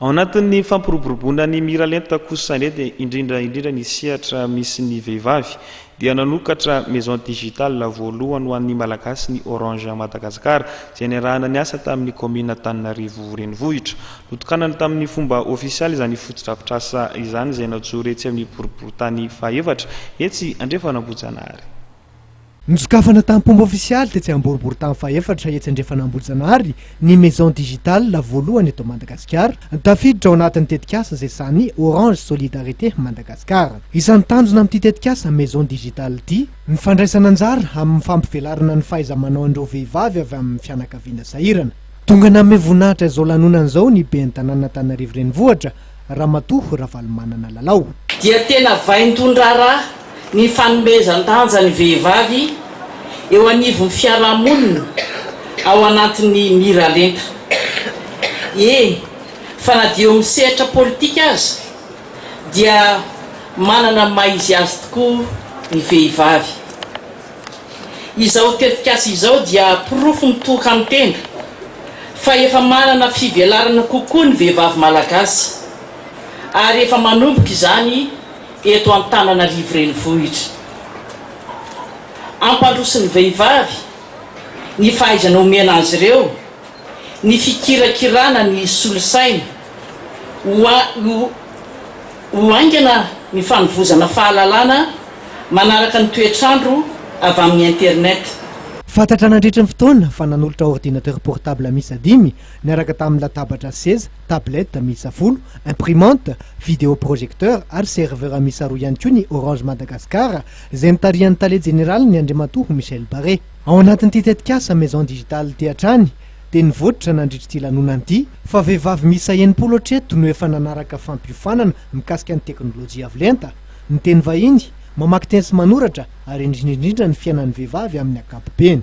Ao anatin'ny fampiroboroboana ny Miralenta kosa anefa, indrindra indrindra ny sehatra misy ny vehivavy, dia nanokatra Maison Digitale voalohany ho an'ny Malagasy ny Orange Madagascar, izay niarahana niasa tamin'ny Kaominina Antananarivo Renivohitra. Notokanany tamin'ny fomba ofisialy izany fotodrafitrasa izany izay najoro etsy amin'ny boriborintany fahefatra, etsy Andrefan'Ambohijanahary. Nosokafana tamim-pomba ofisialy tetsy Amboriboritany fahefatra etsy Andrefan'Ambohijanahary ny Maison Digitale voalohany eto Madagasikara, tafiditra ao anatin'ny tetikasa izay sahanin'ny Orange Solidarité Madagascar. Isan'ny tanjona amin'ity tetikasa Maison Digitale ity, ny fandraisana anjara amin'ny fampivelarana ny fahaiza-manaon'ireo vehivavy avy amin'ny fianakaviana sahirana. Tonga nanome voninahitra izao lanonana izao ny Ben'ny tanànan'Antananarivo Renivohitra, Ramatoa Ravalomanana Lalao. Dia tena vaindohan-draharaha ny fanomezan-danja ny vehivavy eo anivon'ny fiarahamonina ao anatin'ny miralenta. Eny fa na dia eo amin'ny sehatra politika aza dia manana ny maha izy azy tokoa ny vehivavy. Izao tetikasa izao dia porofo mitoka amin'ny tenda fa efa manana fivelarana kokoa ny vehivavy malagasy ary efa manomboka izany eto Antananarivo Renivohitra. Ampandrosoin'ny vehivavy ny fahaizana omena azy ireo, ny fikirakirana ny solosaina. ho haingana ny fanovozana fahalalana manaraka ny toetr'andro avy amin'ny internet. Fantatra nandritry ny fotoana fa nanolotra ordinateur portable miisa dimy niaraka tamin'ny latabatra sy seza, tablettes, miisa folo, imprimante, vidéo projecteur ary serveur miisa roa ihany koa ny Orange Madagascar izay notarihan'ny Tale jeneralin'ny Andriamatoa Michel Barré. Ao anatin'ity tetikasa Maison Digitale ity hatrany dia nivoitra nandritra ity lanonana ity fa vehivavy miisa enimpolo hatreto no efa nanaraka fampiofanana mikasika ny teknolojia avo lenta, ny teny vahiny, mamaky teny sy manoratra ary indrindra indrindra ny fiainan'ny vehivavy amin'ny ankapobeny.